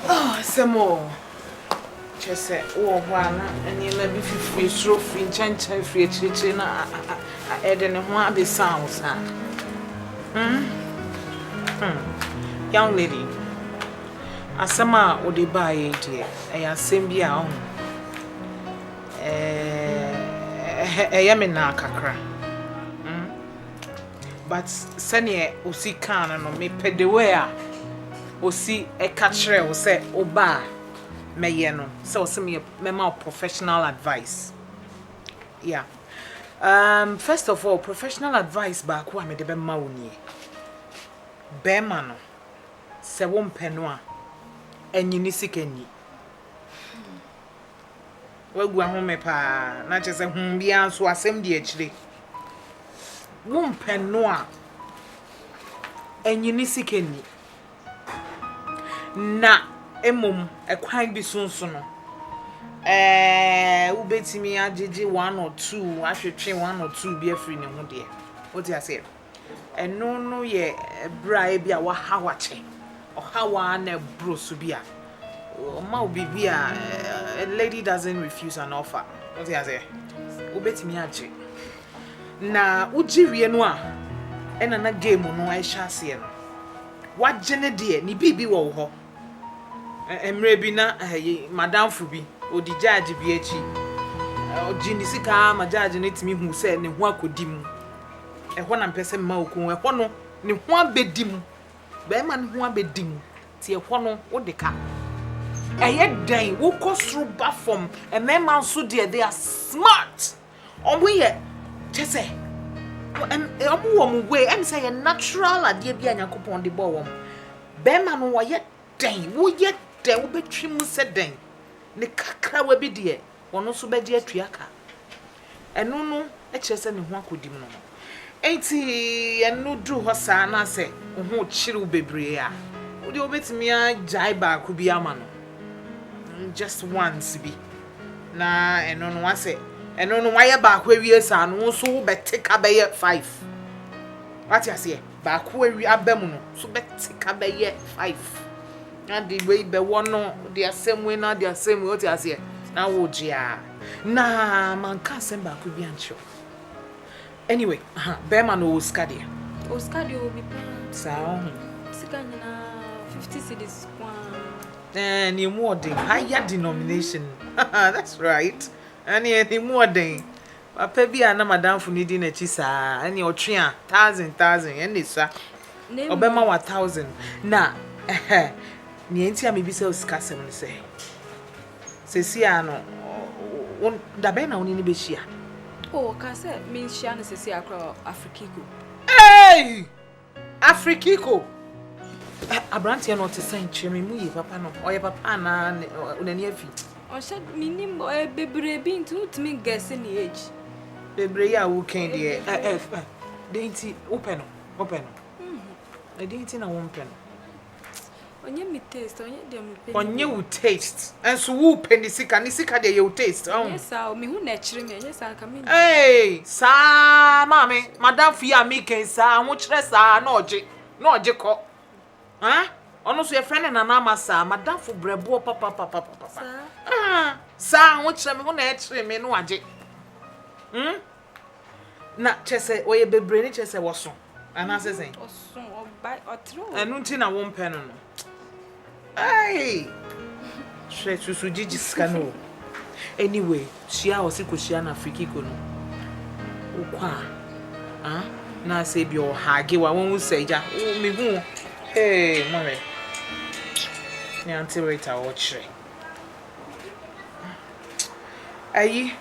Oh, asɛm o. Kyerɛ sɛ wowɔ hɔ a na nneɛma bi fifiri soro firi nkyɛnkyɛn firi akyirikyiri na ɛde ne ho abɛsan wo saa. Hmm? Hmm. Young lady, asɛm a wode baeɛ deɛ, ɛyɛ asɛm bi a ɔho. Ɛyɛ me naa kakra. But sɛdeɛ Osi kaa no no, mepɛ the way a Osi ka kyerɛɛ wo sɛ woba a mɛyɛ no, sɛ ɔse meyɛ mɛma wo professional advice. Yeah. Um, first of all, professional advice baako a mede bɛma wo nie. Bɛrima no, sɛ wompɛ no a, anyi ne sika nni. W'agua home paa na kyerɛ sɛ hum biara nso asɛm di akyire. Wo mpɛ no a ɛnyini sika nni. Na mmom ɛkwan bi so nso no ɛɛ wobɛtumi agyegye one or two atwetwe one or two bi afiri ne ho deɛ. Wote aseɛ? Ɛno no yɛ bere a ebi a wahaw akyɛ, ɔhaw a na ɛboro so bi a ɔma wo biribi a a lady doesn't refuse an offer. Wote aseɛ? Wobɛtumi agye. Na wogye wie no a ɛna na game no ɛhyɛ aseɛ no. Wagye ne deɛ ne biribi wɔ wo hɔ. Ɛ- Mmerɛ bi na eh, ye- madamfo bi ɔdi gyaagye bi akyi. Ɔgye ne sika ara ma gyaagye no tumi hu sɛ ne ho akɔdi mu. Ɛhɔ na mpɛ sɛ mma oku wo. Ɛhɔ no, ne ho abɛdi mu. Barima no ho abɛdi mu. Nti ɛhɔ no, wode ka. Ɛyɛ dɛn? Wokɔ soro ba fam. Mmarima nso deɛ, they are smart. Wɔyɛ, kyɛ sɛ, wɔwɔ wɔn way. Ɛne sɛ yɛ natural adeɛ bi a Nyankopɔn de bɔɔ wɔn. Barima no, wɔyɛ dɛn? Woyɛ dɛn? Wobɛtwam sɛ dɛn? Ne kakrawa bi deɛ, wɔn nso bɛde atua ka. Ɛno no kyerɛ sɛ ne ho akodim no ho. Enti ɛno duru hɔ saa na sɛ wo ho rekyere wo bebree a, wo deɛ wobɛtumi agyae baako bi ama no, just once bi, na ɛno no asɛ ɛno no wayɛ baako awie saa no, wo nso wobɛte ka bɛyɛ five. Wate aseɛ? Baako awie aba mu no, so bɛte ka bɛyɛ five. Na de wei bɛwɔ no, de asɛm wei na de asɛm wei, wote aseɛ, na wogye a. Na manka asɛm baako bi ankyerɛ wo. Anyway, aha, bɛrima no ɔwɔ sika deɛ? Ɔwɔ sika deɛ, ɔwɔ bi paa. Saa ɔho. Sika nyinaa, fifty cedis ko ara. Eh, ne mu ɔden, higher denomination. That's right. Ɛneɛ ne mu ɔden. Papa bi a na m'adamfo no di n'akyi saa, ɛnneɛ ɔtwe a, thousand, thousand, ɛnna ɛsua. Ɔbɛma wo a thousand. Na ɛhɛ, nea enti a mebisa wo sikasɛm no sɛ, seesei ara no, wo, da bɛn na wo ne no bɛhyia? O, ɔkaa sɛ menhyia no seesei ara koraa wɔ Afrikiko. Ei! Afrikiko! Abranteɛ no ɔte sɛn? Kyerɛ me mu yie papa no. Ɔyɛ papa anaa n'ani afi? Ɔhyɛ menim ɔyɛ bebree bi nti wotumi gɛse ne age. Bebree yi a wokan deɛ ɛɛ dɛn nti wopɛ no? Wopɛ no? Ɛdɛn nti na wompɛ no? Ɔnyɛ me taste, ɔnyɛ deɛ me pɛ ne bi o. Ɔnyɛ wo taste, nso wo pɛ ne sika, ne sika deɛ ɛyɛ wo taste. Ɛnyɛ saa o, me ho na ɛkyere me, ɛnyɛ saa nka me nim. Eeii saa maame, madamfo yi a me reka yi saa, ahokyerɛ saa na ɔgye, na ɔgye kɔ. Haa, ɔno nso yɛfrɛ no Nana Ama saa, madamfo brɛboɔ papapapapapa. Saa. Haa, saa ahokyerɛ, me ho na ɛkyere me na wagye. Hmm. Na kyerɛ sɛ wɔyɛ bebree no kyerɛ sɛ wɔso anaasɛ sɛn? Ɔso ɔba ɔtere o. Ɛno nti na wompɛ no no. Ai! Hwɛ susu gyigye sika no o. Anyway, hyia a ɔse kɔhyia no afirikiko no. Wokɔ a, ah, na sɛ ebi ɔhage wa wɔn sɛ agya wo mehu o. Hey, mohwɛ. Ne auntie Rita ɔkyerɛ. Ayi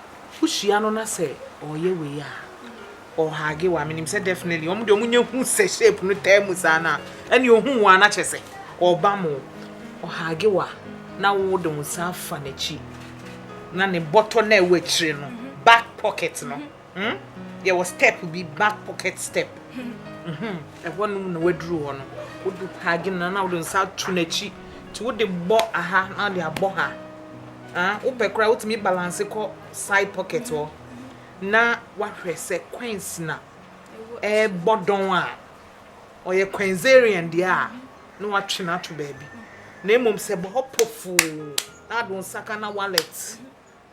wohyia no na sɛ ɔyɛ wei a ɔhage wo a menim sɛ definitely wɔn deɛ wɔn nyɛ hu sɛ shape no taa mu saa no a ɛne ohun wo a na kyɛ sɛ ɔba mo ɔhage wo a na wo de wo nsa afa n'akyi na ne bɔtɔ na ɛwɔ akyire no back pocket no. Hmm? Yɛwɔ step bi back pocket step. Mhm. Ɛhɔ nom na waduru hɔ no. Wodu paagi no na wode nsa ato n'akyi. Nti wode bɔ aha na wode abɔ ha. Ah, wopɛ koraa wotumi balance kɔ side pocket hɔ. Na wahwɛ sɛ coins na ɛrebɔ dɔn a ɔyɛ coinsarian deɛ a na watwe no ato baabi. Na mmom sɛ bɔ hɔ pofoo na wode nsa ka na wallet.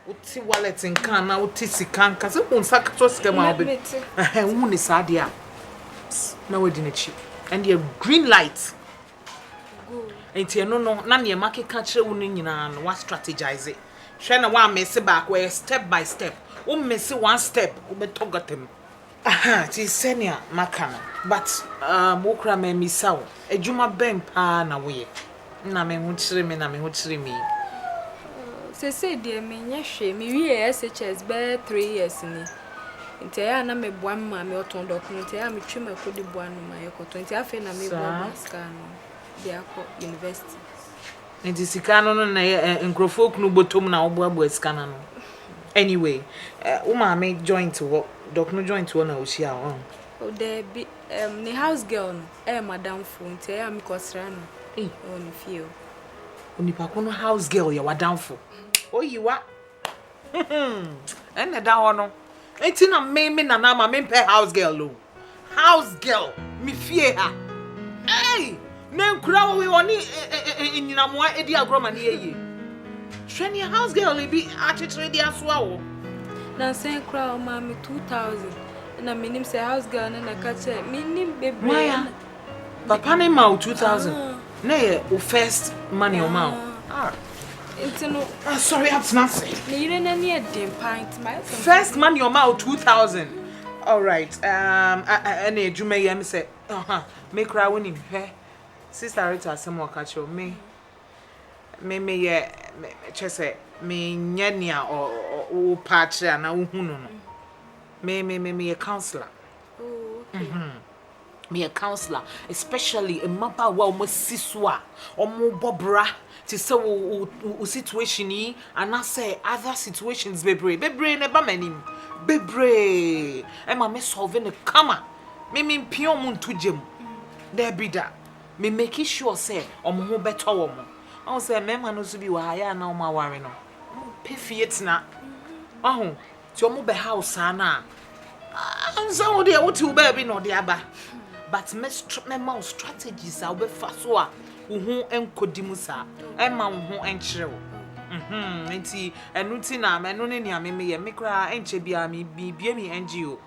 Wote wallet nka anaa wote sika nka? Sɛ wohu nsa ketewa sika mu a wobɛ ɛhɛn wohu ne saa deɛ a na wadi n'akyi. Ɛndeɛ green light. Nti ɛno no na nea makeka kyerɛ wo no nyinaa no wa strategize. Hwɛ na woammese baako ɛyɛ step by step. Wo mmese one step wobɛtɔ gata mu. Aha, te sɛnea maka no. But um wo koraa mammisa wo, adwuma bɛn paa na woyɛ? Nna me ho kyere me na me ho kyere me yi. Oh, seesei deɛ menyɛ hwee. Mewiee SHS bɛyɛ three years ni. Nti ɛyɛ a na meboa me maame, ɔtɔn dɔkono nti ɛyɛ a metwam akɔdi boa no ma yɛkɔtɔ. Nti afei na meboaboa Saa. sika ano de akɔ university. Nti sika no no na yɛ eh nkurɔfoɔ kunu bɔtɔm na woboaboa sika no ano anyway eh wo maame joint hɔ dɔk no joint hɔ na wohyia wo oh. Oh daabi ehm ne house girl no ɛyɛ madamfoɔ nti ɛyɛ a mekɔ sra no ei wɔ ne fie oh. Onipa ko no house girl yɛ wadamfo oyiwa. Ɛna ɛda hɔ no nti na me me nana ama me mpɛ house girl o house girl me fie ha ei na nkura wɔ wɔ ne nyinamoa edi agorɔ ma ne yɛ yie hwɛ ne house girl bi akyekyere de asoa wɔ. na nsɛn kura ɔmaa me two thousand na menim sɛ house girl no na ɛka kyerɛ menim bebree. Papa ne ma wo two thousand. Na yɛ wo first money ɔma wo. Ah. Nti no. Ah sorry atena ase. Ne yere n'ani ɛden paa nti ma yɛ sɛ. First money ɔma wo two thousand. All right. Um, ɛna adwuma yɛ mi sɛ, aha, me kura wo nim hwɛ. Sister Rita asɛm ɔka kyerɛ me. Me me yɛ kyɛ sɛ me nyɛ nea wo pa kyerɛ ana wo hu no no. Me me me me yɛ counselor. Oh, okay. Mm -hmm. meyɛ counsellor especially mmabaawa a wɔn asi so a wɔn rebɔ bra te sɛ wo wo wo situation yi anaasɛ other situations bebree bebree na ɛba m'anim bebree ɛma me solve no kama me me mpia wɔn nto gya mu daabi da me make sure sɛ wɔn ho bɛtɔ wɔn wɔn sɛ mmarima no nso bi wɔ ha yɛ a na wɔn aware no wɔn pɛ fie tena wɔn ho. Nti ɔmo bɛha wo saa no a, ansa wo deɛ wote wo baabi na ɔde aba. But me mɛma wo strategies a wobɛfa so a wo ho nkɔdi mu saa. Ɛmma wo ho nkyerɛ wo. Mhm, nti ɛno nti na ɛno ne nea me meyɛ. Me koraa ɛnkyɛ biara me mebue me NGO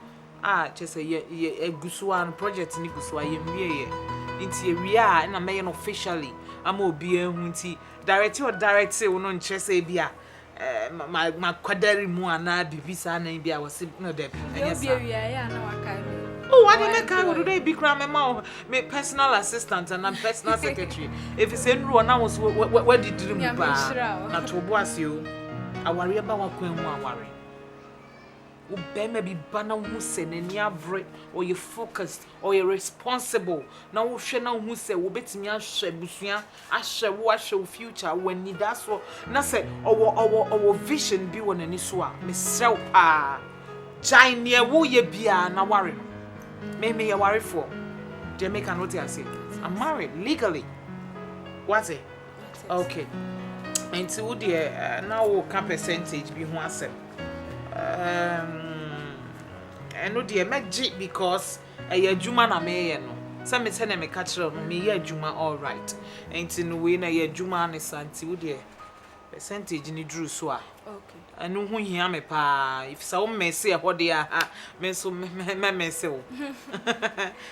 a kyɛ sɛ yɛ yɛ ɛgu so a no project no gu so a yɛnwie yɛ. Nti yɛwie a ɛna mɛyɛ no officially ama obiara ahu nti directee ɔdirectee wo no nkyerɛ sɛ ebia makwadare mu anaa biribi saa na bi a wɔse no dɛ ɛnyɛ saa Oh, what did I kind of do? Be crying, my mom, my personal assistant, and I'm personal secretary. If it's in Rwanda, I was what did you do? Not to was you. I worry about what going on. Wo barima bi ba na wohu sɛ n'ani abere, ɔyɛ focused, ɔyɛ responsible, na wohwɛ na wohu sɛ obetumi ahwɛ abusua, ahwɛ wo, ahwɛ wo future, ɔwɔ anidasoɔ, na sɛ ɔwɔ ɔwɔ ɔwɔ vision bi wɔ n'ani so a, mesrɛ wo paa, gyae deɛ woreyɛ biara na ware no. Me, meyɛ warefoɔ. Deɛ meka no wote aseɛ? I'm married legally. Wate? Okay. Nti wo deɛ eh, na woka percentage bi ho asɛm. Um, ɛno deɛ mɛgye because ɛyɛ adwuma na meyɛ no. Sɛ me sɛnea meka kyerɛ wo no, meyɛ adwuma all right. Nti no wei na ɛyɛ adwuma ne sa nti wo deɛ percentage no duru so a. Okay. Ɛno ho hia me paa. Sɛ wo mese ɛhɔ deɛ a, me nso mɛ mese wo.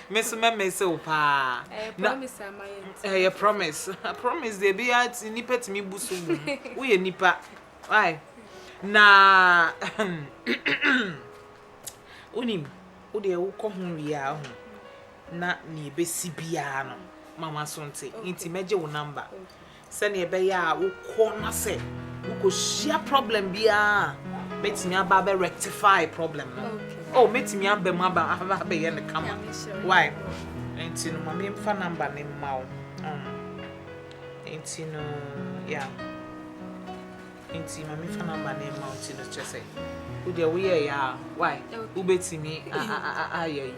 Me nso mɛ mese wo paa. Ɛyɛ promise ama yɛ nti. Ɛyɛ promise. Promise deɛ bi a nipa tumi bu so wom. Woyɛ nipa. Why? Na wonim, wo deɛ wokɔ ho wie a ho na nea ebesi biara no, mama so nte. Nti mɛgye wo number. Sɛnea ɛbɛyɛ a wokɔ na sɛ wokohyia problem biara a, mɛtumi aba abɛ rectify problem no. Oh, mɛtumi aba mu aba abɛyɛ no kama. Why? Nti no ma memfa number no mma wo. Um, nti no, yeah. Nti ma memfa number no mma wo nti no kyerɛ sɛ wodeɛ woyɛeɛ a, why? Wobɛtumi ayɛ yi.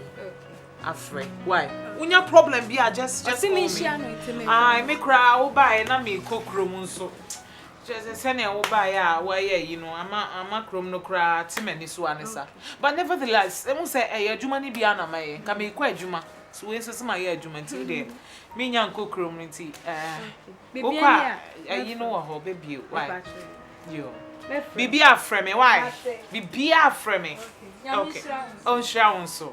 Afrɛ why wonya problem bi a just just call me. Ɔsi mi nhyia no nti mi. Ayi mi koraa wo baa yɛ na mi kɔ kurom nso kyerɛ sɛ sɛnea wo baa yɛ a wa yɛ yi no ama ama kurom no koraa te ma ni so a ne sa but nevertheless ehu sɛ ɛyɛ adwuma ni bi a na ma yɛ nka mi kɔ adwuma so wei nso si ma yɛ adwuma nti deɛ mi nya nkɔ kurom no nti ɛɛ wo kɔ a ɛyi no wɔ hɔ bɛ bie why yoo bibi afrɛ mi why bibi afrɛ mi okay ɔnhyira wo nso.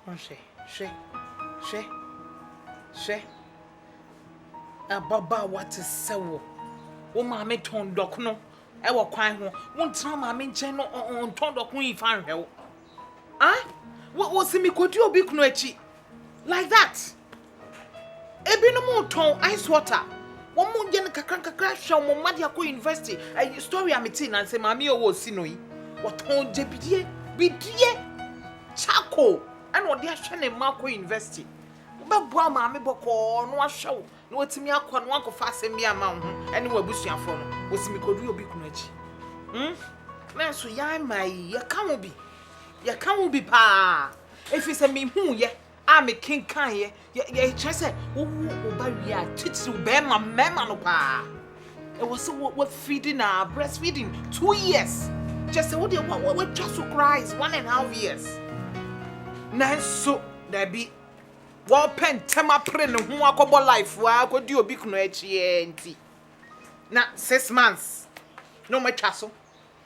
Hwɛ, hwɛ, hwɛ, hwɛ. Ababaawa te sɛ wo. Wo maame tɔn dɔkono wɔ kwan ho. Wontena maame nkyɛn no ɔntɔn dɔkono yi fa nhwɛ wo. Ah, wosi mekɔdi obi kunu akyi. Like that. Ebinom tɔn ice water. Wɔn mo yɛ no kakra nkakra hwɛ wɔn mma de akɔ university. Ɛyɛ story a me tee na nsɛ maame yɛ ɔwɔ osi no yi. Wɔtɔn gyebidie, bidie, charcoal ɛna ɔde ahwɛ ne mma akɔ university. Wobɛboa maame bɔkɔɔ na wahwɛ wo na watumi akɔ na wakɔfa asɛm bi ama wo ho ɛne w'abusuafoɔ no. Wɔsi me kɔduru obi kunu akyi. Hmm? Nanso yɛn mmaa yi yɛka wo bi. Yɛka wo bi paa. Ɛfiri sɛ mehuuɛ a mekenkaneɛ, kyerɛ sɛ, wowo wo ba wie a, titiriw barima, mmarima no pa ara, ɛwɔ sɛ wɔafidi no ara, breastfeeding, two years, kyerɛ sɛ, wo deɛ woatwa so koraa is one and half years. Nanso, daabi, wɔrepɛ ntɛm apere ne ho akɔbɔ life ara akɔdi obi kunu akyi ara nti, na six months na wɔatwa so.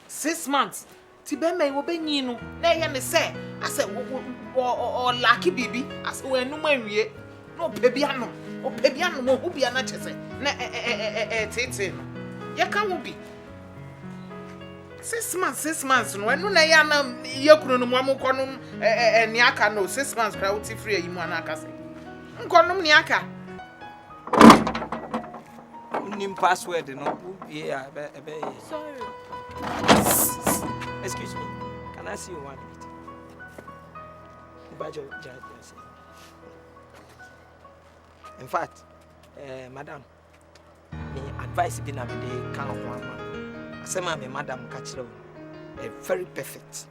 Six months ti bɛrima yi wɔbɛnyin no na ɛyɛ ne sɛ asɛ ɔlake biribi asɛ wɔanum anwie na ɔpɛ bi anom ɔpɛ bi anom ɔhu bi ana kyɛ sɛ na ɛteetee no yɛka ho bi six months six months no ɛno na ɛyɛ ana yɛ kunu no mu ɔmo nkɔnom ɛɛ nea aka no six months koraa wote firi ayi mu ana aka sɛ nkɔnom nea aka. Wonim password no, wowie a ɛbɛyɛ. Sorry. Excuse me, can I see you one minute? Bajo, Jajasi. In fact, uh, madam, me advice bi na me de ka ho ama. Asɛm a me madam ka kyerɛ wo, very perfect.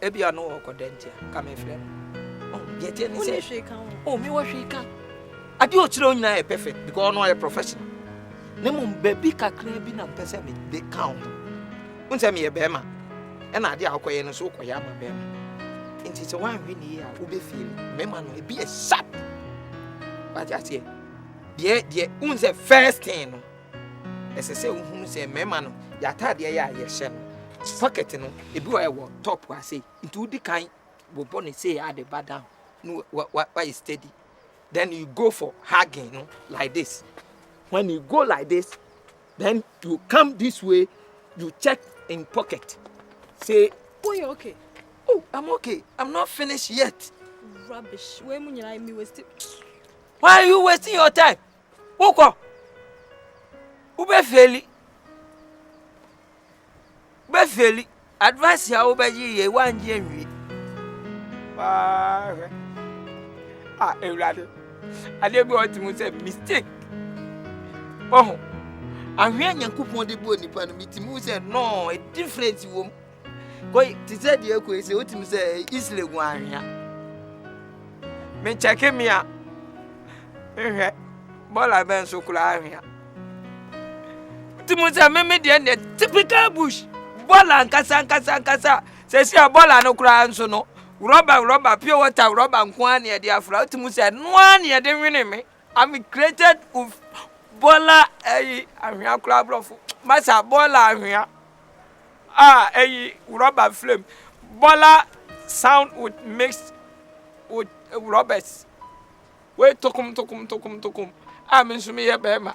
Ebia no wɔ kɔdɛ nti a ka mefrɛ no. Oh, deɛ ɛteɛ ne sɛ oh, mewɔ hwee ka. Adeɛ ɔkyerɛ wo nyinaa yɛ perfect because ɔno ɔyɛ professional. Na mmom baabi kakra bi na mpɛ sɛ mede ka wo ho. Wo nsɛ meyɛ bɛrima ɛna adeɛ a wokɔyɛ no so wokɔyɛ ama bɛrima. Nti sɛ woanhwɛ ne yie a wobɛfie no mmarima no ebi yɛ sharp. Wate aseɛ? Deɛ deɛ wo nsɛ first thing no Ɛsɛ sɛ wohunu sɛ mmarima no, yɛ ataadeɛ yɛ a yɛhyɛ no, pocket no, ebi wɔ ɛwɔ top ase, nti wodi kan bobɔ ne sei a de ba down, no wayɛ steady. Then you go for hugging no like this. When you go like this, then you come this way, you check in pocket. Say, oh, you're okay. Oh, I'm okay. I'm not finished yet. Rubbish. Why are you wasting your time? Wokɔ, wobɛfeeli. Wobɛfeeli. Advice a wobɛgye yɛ woangye anwie. Paa hwɛ. A Awurade, adeɛ bi a ɔte mu sɛ mistake. Ɔho. Ahwea Nyankopɔn de bɔ nipa no, metumi hu sɛ no, difference wɔ mu. koi te sɛ deɛ koi sɛ wotumi sɛ isle gu anhwea mekyɛke me a nhwɛ bɔla bɛn so koraa anhwea wotumi sɛ meme deɛ deɛ typical bush bɔla nkasa nkasa nkasa sɛ si a bɔla no koraa nso no rɔba rɔba pure water rɔba nko ara na yɛde afra wotumi sɛ noa na yɛde nwene me I'm created with Bola ɛyi anhwea koraa aborɔfo masa Bola anhwea a ɛyi rɔba flame Bola sound with mixed with rɔbɛs wei tokom tokom tokom tokom a me nso meyɛ bɛrima